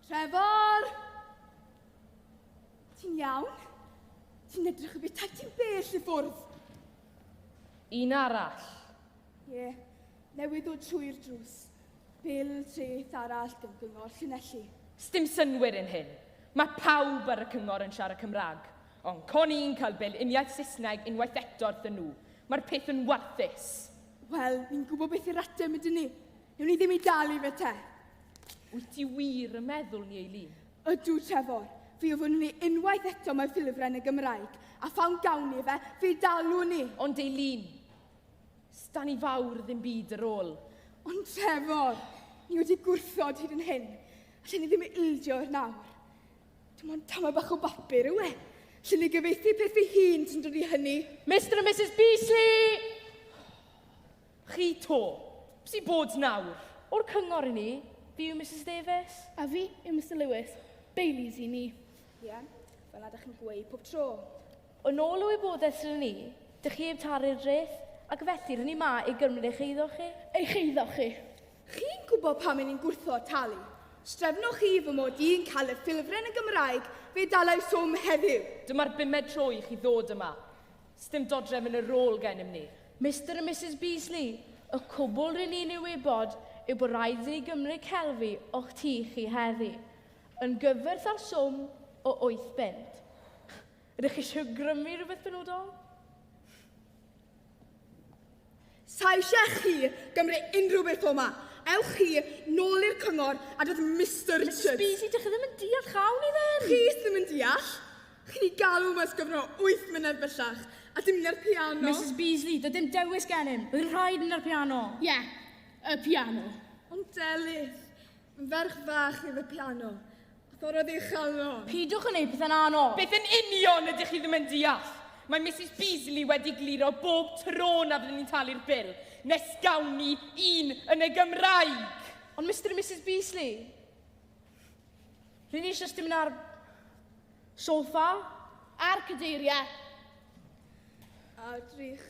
Trevor! Ti'n iawn? Ti'n edrych y bethau ti'n bell i ffwrdd. Un arall. Ie, yeah. newydd ddod trwy'r drws. Bil treth arall gyda gyngor Llanelli. Sdim synwyr yn hyn. Mae pawb ar y cyngor yn siarad Cymraeg. Ond con i'n cael bil uniaith Saesneg unwaith eto wrthyn nhw. Mae'r peth yn warthus. Wel, ni'n gwybod beth yw'r ateb ydyn ni. Newn ni ddim i dalu fe te. Wyt ti wir yn meddwl ni, Eileen? Ydw, Trevor. Fi o fyny unwaith eto mae ffilfren y Gymraeg, a phawn gawn ni fe, fe dalwn ni. Ond Eileen, stan i fawr ddim byd yr ôl. Ond Trevor, ni wedi gwrthod hyd yn hyn. Allen ni ddim ildio yr nawr. Dim ond tamau bach o bapur yw e. Lle ni gyfeithi peth fi hun sy'n dod i hynny. Mr a Mrs Beasley! Chi to. Bys i bod nawr. O'r cyngor i ni, fi yw Mrs Davies. A fi yw Mr Lewis. Baileys i ni. Ie, yeah. fel na dych chi'n gweud pob tro. Yn ôl y wybodaeth sydd ni, dych chi heb taru'r dreth, ac felly rydyn ni ma i gymryd eich eiddo chi. Eich eiddo chi? Chi'n gwybod pam 'yn ni'n gwrthod talu? Strefnoch chi fy mod i'n cael y ffilfren yn Gymraeg fe dalai swm heddiw? Dyma'r bumed tro i chi ddod yma. Sdim dodrefn yn y rôl gennym ni. Mister a Misus Beasley, y cwbl rŷn ni'n ei wybod yw bod rhaid i ni gymryd celfi o'ch tŷ chi heddi, yn gyfwerth â'r swm o wyth bunt. Ydych chi eisiau grymu rhywbeth benodol? Sa eisiau chi gymru unrhyw beth o'ma, ewch chi nôl i'r cyngor a dod Mr Richards. Mr Speedy, dych chi ddim yn deall chawn ni ddim. Chi ddim yn deall? Chi'n ei galw mas gyfro 8 mynedd bellach, a dim na'r piano. Mrs Beasley, doedd dim dewis gennym. Bydd rhaid na'r piano. Ie, yeah, y piano. Ond Delyth, ferch fach oedd y piano. Ffordd oedd eich galon? Pidwch yn ei pethau'n anodd. Beth yn union ydych chi ddim yn deall? Mae Mrs Beasley wedi gliro bob tro na fyddwn ni'n talu'r bil, nes gawn ni un yn y Gymraeg! Ond Mr a Mrs Beasley, rydyn ni eisiau dim ar sofa a'r cadeiriau. A drych,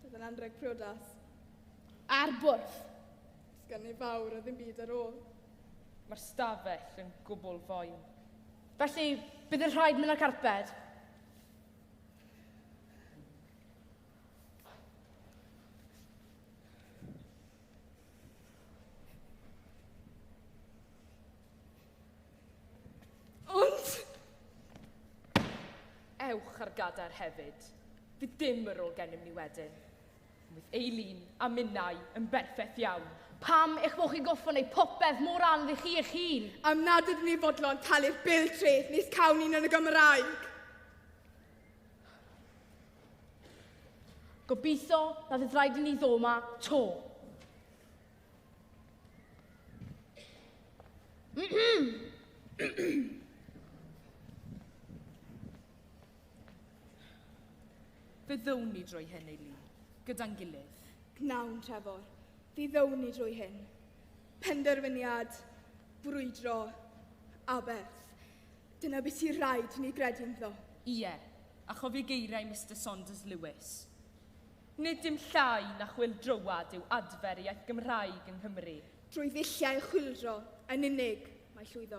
bydd yn anrheg priodas. A'r bwrdd. Does gan neb fawr a ddim byd ar ôl. Mae'r stafell yn gwbl foen. Felly, bydd yn rhaid mynd â'r carped. ewch ar gadair hefyd. Fydd dim yr ôl gennym ni wedyn. Roedd Eileen a minnau yn berffeth iawn. Pam eich bod chi'n gorfod gwneud popeth mor anodd i chi eich hun? Am nad ydyn ni fodlon talu'r bil treth nis cawn ni'n yn y Gymraeg. Gobeithio na fydd rhaid i ni ddod yma to. Fe ddown ni drwy hyn, ei lu, gyda'n gilydd. Gnawn, Trefor. Fe ddown ni drwy hyn. Penderfyniad brwydro aberth. Dyna beth sy'n rhaid i ni gredu ynddo. Ie, a chofio geiriau Mister Saunders Lewis. Nid dim llai na chwyldroad yw adfer iaith Gymraeg yng Nghymru. Drwy ddulliau chwyldro yn unig mae llwyddo.